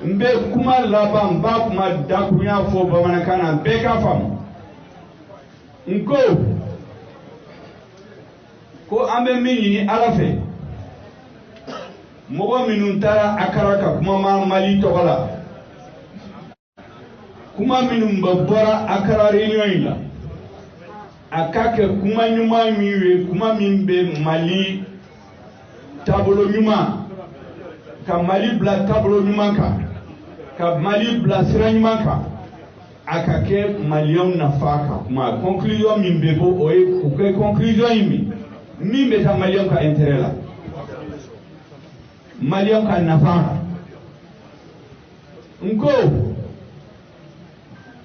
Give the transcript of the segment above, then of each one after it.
n bɛ kuma laban n b'a kuma dakurunya fɔ bamanankan na bɛɛ k'a faamu n ko ko an bɛ min ɲini ala fɛ mɔgɔ minnu taara akara ka kuma ma mali tɔgɔ la kuma minnu bɛ bɔra akara réunion in la a ka kɛ kuma ɲuman min ye kuma min bɛ mali taabolo ɲuman ka mali bila taabolo ɲuman kan ka mali bila sira ɲuman kan a ka kɛ maliyɛnw nafa kan kuma conclusion min bɛ bɔ o ye u kɛ conclusion ye min min bɛ taa maliyɛnw ka intérêt la maliyɛnw ka nafa n ko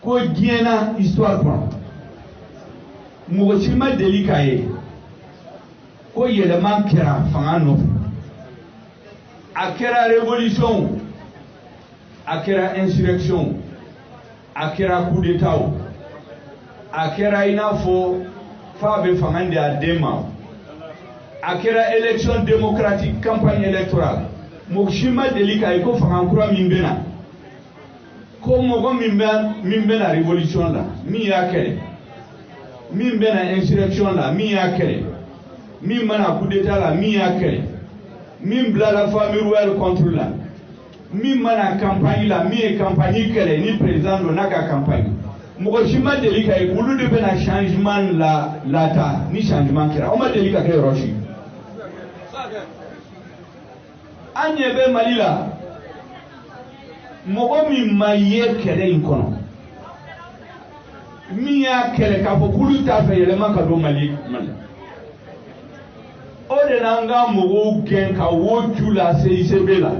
ko diɲɛ na histoire kɔnɔ mɔgɔ si ma deli k'a ye ko yɛlɛma kɛra fanga nɔfɛ a kɛra révolution o a kɛra insurrection o a kɛra coup d'état o a kɛra i n'a fɔ fa bɛ fanga di a den ma a kɛra élection démocratique campagne électorale mɔgɔ si ma deli k'a ye ko fanga kura min bɛ na ko mɔgɔ min banna révolution la min y'a kɛlɛ min banna insurrection la min y'a kɛlɛ min banna coup d'état la min y'a kɛlɛ min bilala famille royale contre la min banna campagne la min ye campagne kɛlɛ ni président don n'a ka campagne mɔgɔ si ma deli k'a ye olu de bɛna changement lataa ni changement kɛra o ma deli ka kɛ yɔrɔ si an ɲɛ bɛ mali la mɔgɔ min ma ye kɛlɛ in kɔnɔ min y'a kɛlɛ k'a fɔ k'olu t'a fɛ yɛlɛma ka don mali mali o de nana ka mɔgɔw gɛn ka wo ci u la cicb la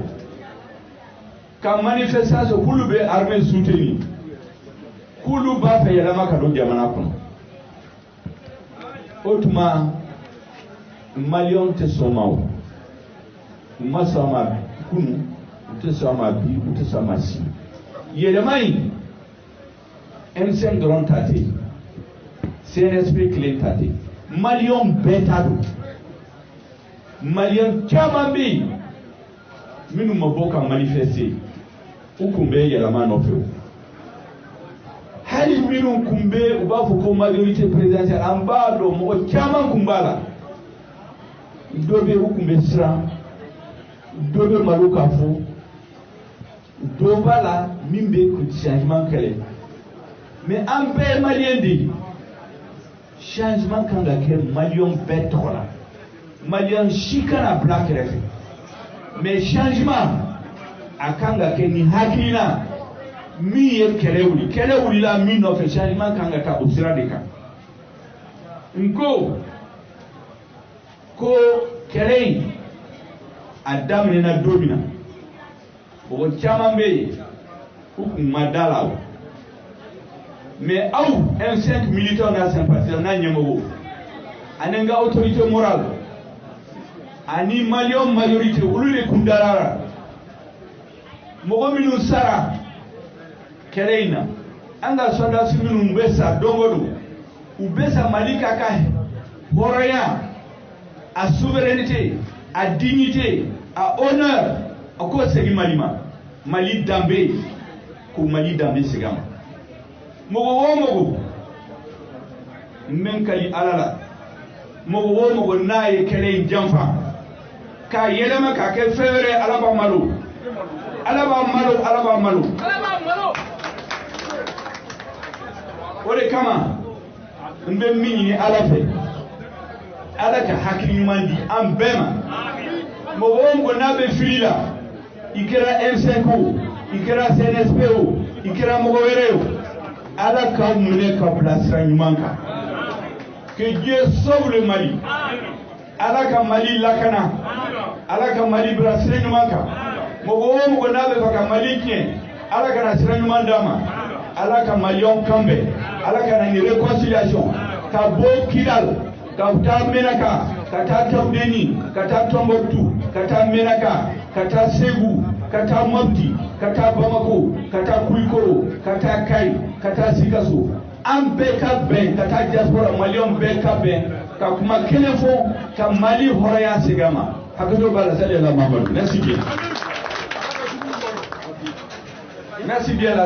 ka manifestation k'olu bɛ armée soutenir k'olu b'a fɛ yɛlɛma ka don jamana kɔnɔ o tuma maliyɛnw tɛ sɔn ma o u ma sɔn ma kunu u tɛ sɔn ma bi u tɛ sɔn ma sini yɛlɛma in m5 dɔrɔn ta tɛ cnsp kelen ta tɛ maliyɛnw bɛɛ ta don maliyɛn caman bɛ yen minnu ma bɔ ka manifester u kun bɛ yɛlɛma nɔfɛ o hali minnu kun bɛ u b'a fɔ ko majorité présidentielle an b'a dɔn mɔgɔ caman kun b'a la dɔ bɛ u kun bɛ siran dɔ bɛ malo k'a fɔ dɔ b'a la min bɛ changement kɛlɛ mais an bɛɛ ye maliyɛn de ye changement kan ka kɛ maliyɛn bɛɛ tɔgɔ la maliyɛn si kana bila kɛrɛfɛ mais changement a kan ka kɛ ni hakilina min ye kɛlɛ wuli kɛlɛ wulila min nɔfɛ changement kan ka taa o sira de kan n ko ko kɛlɛ in a daminɛna don min na mɔgɔ caman bɛ yen u kun ma da a la o mais aw M5 militants n'a sympathisants n'a ɲɛmɔgɔw ani an ka autorité morale ani maliyɛn majorité olu de kun dara a la mɔgɔ minnu sara kɛlɛ in na an ka sɔrɔdasi minnu bɛ sa don o don u bɛ sa mali ka ka hɔrɔnya a souveraineté a dignité a honneur a k'o segin mali ma mali danbe ko mali danbe segin a ma mɔgɔ o mɔgɔ n bɛ n kali ala la mɔgɔ o mɔgɔ n'a ye kɛlɛ in janfa k'a yɛlɛma k'a kɛ fɛn wɛrɛ ala b'a malo ala b'a malo ala b'a malo o de kama n bɛ min ɲini ala fɛ ala ka hakili ɲuman di an bɛɛ ma mɔgɔ o mɔgɔ n'a bɛ fili la i kɛra M5 o i kɛra CNSP o i kɛra mɔgɔ wɛrɛ o ala k'a minɛ k'a bila sira ɲuman kan que dieu sauve le mali ala ka mali lakana ala ka mali bila sira ɲuman kan mɔgɔ o mɔgɔ n'a bɛ fɛ ka mali tiɲɛ ala kana sira ɲuman d'a ma ala ka maliyɛnw kan bɛn ala ka na ni réconciliation ka bɔ kidal ka taa menaka ka taa tawdeni ka taa tɔnbuktu ka taa menaka ka taa segu ka taa mɔpti ka taa bamako ka taa kulikoro ka taa kayi ka taa sikaso an bɛɛ ka bɛn ka taa diaspora maliyɛnw bɛɛ ka bɛn ka kuma kelen fɔ ka mali hɔrɔnya segin a ma hakɛto b'a la sali ala mamadu merci bien merci bien la